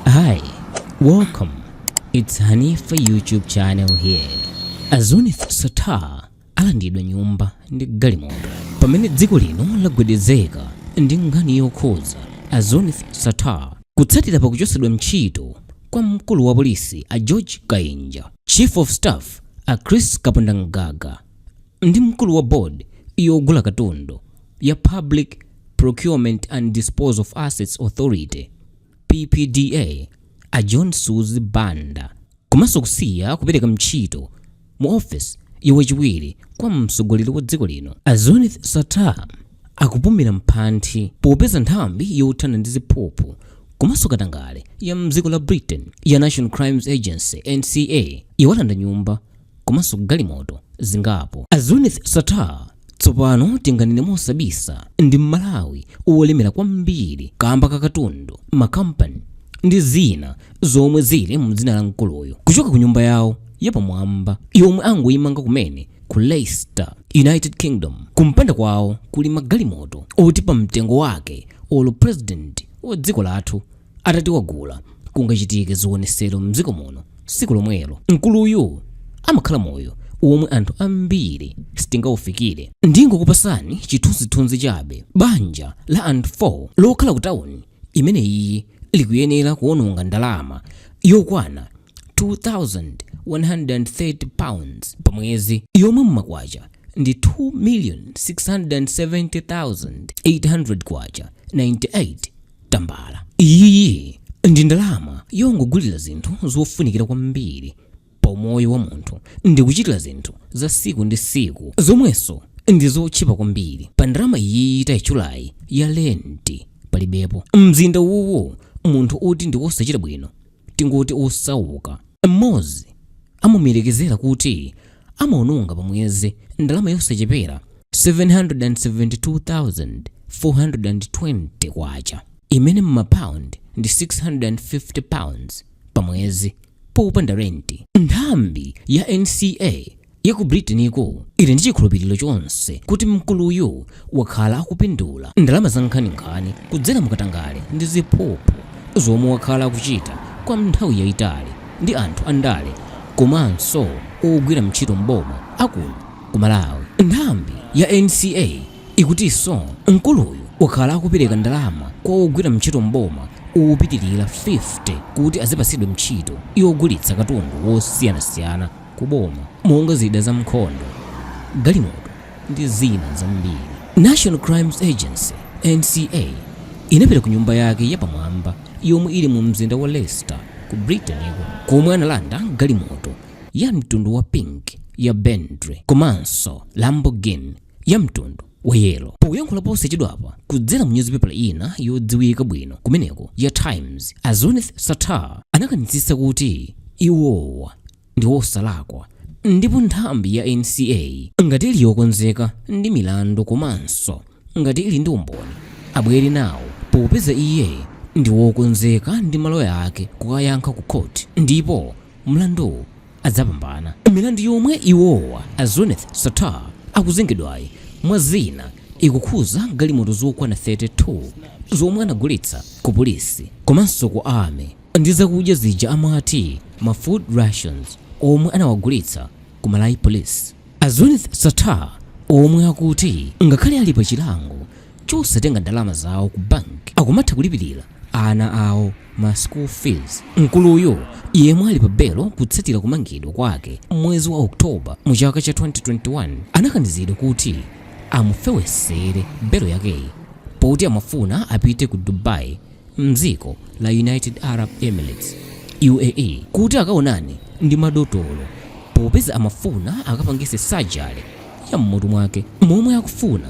Hi, welcome. It's Hanifa YouTube channel here. A Zuneth Sattar alandidwa nyumba ndi galimoto pamene dziko lino lagwedezeka ndi nkhani yokhuza a Zuneth Sattar kutsatira pakuchotsedwa ntchito kwa mkulu wa polisi a George Kainja, Chief of Staff a Chris Kapondamgaga ndi mkulu wa board yogula katundu ya Public Procurement and Disposal of Assets Authority PPDA a John Suzi Banda komanso kusiya kupereka ntchito mu office ya wachiwiri kwa mtsogoleri wa dziko lino a Zuneth Sattar akupumira mphanthi popeza nthambi yothana ndi ziphuphu komanso katangale ya mdziko la Britain ya National Crimes Agency NCA iwalanda nyumba komanso galimoto zingapo. A Zuneth Sattar tsopano tinganene mosabisa ndi Mmalawi wolemera kwambiri kamba ka katundu, makampani ndi zina zomwe zili mu dzina la mkuluyu. Kuchoka ku nyumba yawo yapamwamba yomwe angoyimanga kumene ku Leicester, United Kingdom, kumpanda kwawo kuli magalimoto oti pa mtengo wake olo president wa dziko lathu atati wagula kungachitike zionesero mdziko muno siku lomwelo mkuluyu amakhala moyo womwe anthu ambiri sitingaufikire ndingokupasani chithunzithunzi chabe banja la anthu 4 lokhala ku tawuni imeneyi likuyenera kuononga ndalama yokwana 2130 pounds pa mwezi yomwe mmakwacha ndi 2,670,800 kwacha 98 tambala. Iyiyi ndi ndalama yongogulira zinthu zofunikira kwambiri pa umoyo wa munthu ndi kuchitira zinthu za siku ndi siku zomwenso ndi zotchipa kwambiri. Pa ndalama iyiyi taitchulayi ya lenti palibepo. Mmzinda uwuwu munthu oti ndi wosachita bwino tingoti osauka mmodzi amamuyerekezera kuti amawononga pamwezi ndalama yosachepera K772,420, imene m'mapaundi ndi £650 pamwezi, popanda renti. Nthambi ya NCA ya ku Britain-ko ili ndi chikhulupiriro chonse kuti mkuluyu wakhala akupindula ndalama za nkhaninkhani kudzera mukatangale ndi ziphuphu zomwe wakhala akuchita kwa nthawi yayitali ndi anthu andale komanso ogwira ntchito mboma a kuno ku Malawi. Nthambi ya NCA ikutinso mkuluyu wakhala akupereka ndalama kwa ogwira ntchito mboma opitirira 50 kuti azipatsidwa ntchito yogulitsa katundu wosiyanasiyana ku boma monga zida za mkhondo, galimoto ndi zina zambiri. National Crimes Agency, NCA, inapita ku nyumba yake ya pamwamba yomwe ili mu mzinda wa Leicester ku Britain-ko komwe analanda galimoto ya mtundu wa pink ya Bentley komanso Lamborghini. ya mtundu wa yelo. Poyankhula posachedwapa kudzera mu nyuzipepa ina yodziwika bwino kumeneko ya Times, a Zuneth Sattar anakanitsitsa kuti iwowa ndi osalakwa ndipo nthambi ya NCA ngati ili yokonzeka ndi milandu komanso ngati ili ndi umboni abwere nawo popeza iye ndi wokonzeka ndi maloya ake kukayankha ku khoti ndipo mlanduwu adzapambana. Milandu yomwe iwowa, a Zuneth Sattar, akuzengedwayi mwa zina ikukhuza galimoto zokwana 32 zomwe anagulitsa ku polisi komanso ku Army ndi zakudya zija amati ma food rations omwe anawagulitsa ku Malawi Police. A Zuneth Sattar omwe akuti ngakhale ali pa chilango chosatenga ndalama zawo ku bank akumatha kulipirira ana awo ma school fees. Mkuluyu yemwe ali pa belo kutsatira kumangidwa kwake mwezi wa October mu chaka cha 2021 anakanizidwa kuti amufewesere belo yakeyi poti amafuna apite ku Dubai mdziko la United Arab Emirates, UAE, kuti akaonane ndi madotolo popeza amafuna akapangise surgery ya mmutu mwake momwe akufuna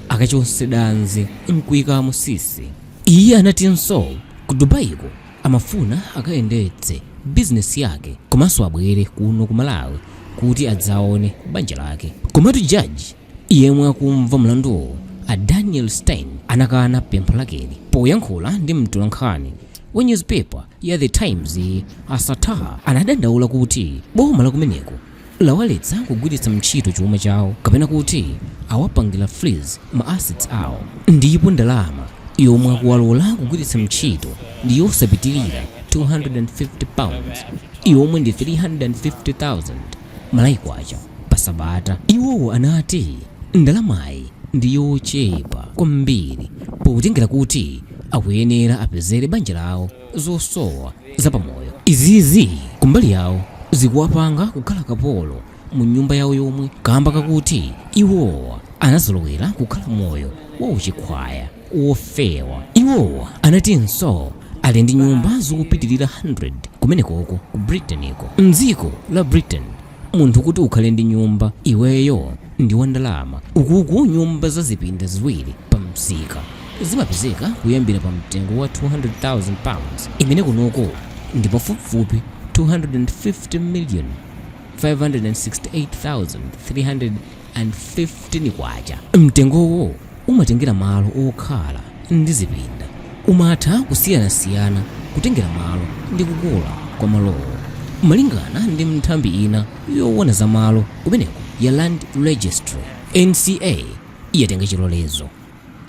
akachonse danzi nkuikamo sisi. Iye anatinso ku Dubai-ko amafuna akayendetse business yake komanso abwere kuno ku Malawi kuti adzaone banja lake. Komatu Judge Yemwe akumva mlanduwu a Daniel Stein anakana pempho lakeli. Poyankhula ndi mtolankhani wa nyuzipepa ya The Times, a Sattar anadandaula kuti boma la kumeneko lawaletsa kugwiritsa mtchito chuma chawo kapena kuti awapangira freeze ma assets awo ndipo ndalama yomwe akuwalola kugwiritsa mtchito ndi yosapitirira 250 pounds yomwe ndi 350,000. Malawi Kwacha pa sabata. Iwowa anati ndalamayi ndi yochepa kwambiri potengera kuti akuyenera apezere banja lawo zosowa za pa moyo. Izizi kumbali yawo zikuwapanga kukhala kapolo mu nyumba yawo yomwe kamba kakuti iwowa anazolowera kukhala moyo wa uchikhwaya. wofewa. Iwo anatinso ali ndi nyumba zopitirira 100 kumenekoko ku Britainko. M'dziko la Britain munthu kuti ukhale ndi nyumba, iweyo ndi wandalama. Ukuku nyumba za zipinda ziwiri pamsika zimapezeka kuyambira pamtengo wa £200,000 imene kunoko ndi pafupifupi K250,568,300. K115. Mtengowo umatengera malo okhala ndi zipinda. Umatha kusiyanasiyana kutengera malo ndi kukula kwa malowo. Malingana ndi nthambi ina yowona za malo kumeneko ya Land Registry, NCA yatenga chilolezo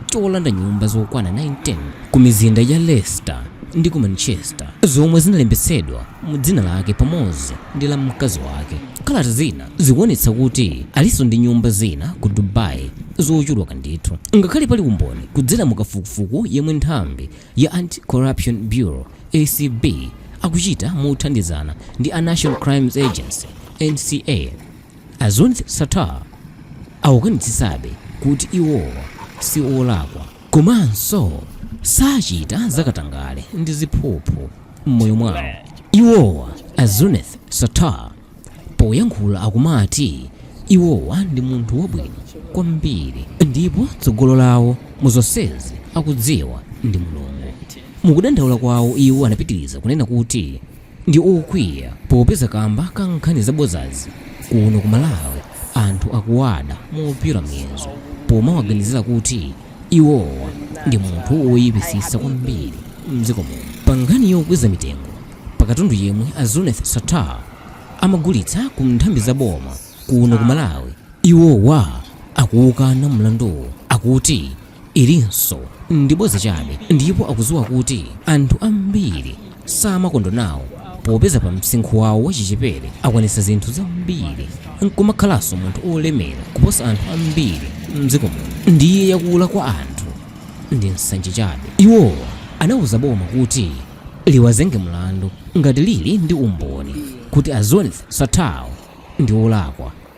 cholanda nyumba zokwana 19 ku mizinda ya Leicester ndi ku Manchester zomwe zinalembetsedwa mu dzina lake pamodzi ndi la mkazi wake. Kalata zina zikuonetsa kuti alinso ndi nyumba zina ku Dubai zochuluka ndithu. Ngakhale pali umboni kudzera mu kafukufuku yemwe nthambi ya Anti-Corruption Bureau, ACB, akuchita mothandizana ndi a National Crimes Agency, NCA, a Zuneth Sattar akukanitsitsabe kuti iwowa si olakwa komanso sachita za katangale ndi ziphuphu m'moyo mwawo. Iwowa, a Zuneth Sattar, poyankhula akumati iwowa ndi munthu wabwino kwambiri ndipo tsogolo lawo mu zonsezi akudziwa ndi Mulungu. Mukudandaula kwawo iwo anapitiliza kunena kuti, ndi okwiya popeza kamba ka nkhani zabodzazi kuno ku Malawi anthu akuwada mopyola muyezo pomawaganizira kuti iwowa ndi munthu woyipitsitsa kwambiri m'dziko muno. Pa nkhani yokweza mitengo pa katundu yemwe a Zuneth Sattar amagulitsa ku nthambi za boma kuno ku Malawi, iwowa akuwukana mlanduwu akuti ilinso ndi bodza chabe ndipo akudziwa kuti anthu ambiri samakondwa nawo popeza pa msinkhu wawo wachichepere akwanitsa zinthu zambiri nkumakhalanso munthu olemera kuposa anthu ambiri mdziko muno ndiye yakula kwa anthu ndi nsanje chabe. Iwowa anauza boma kuti liwazenge mlandu ngati lili ndi umboni kuti a Zuneth Sattar ndi olakwa.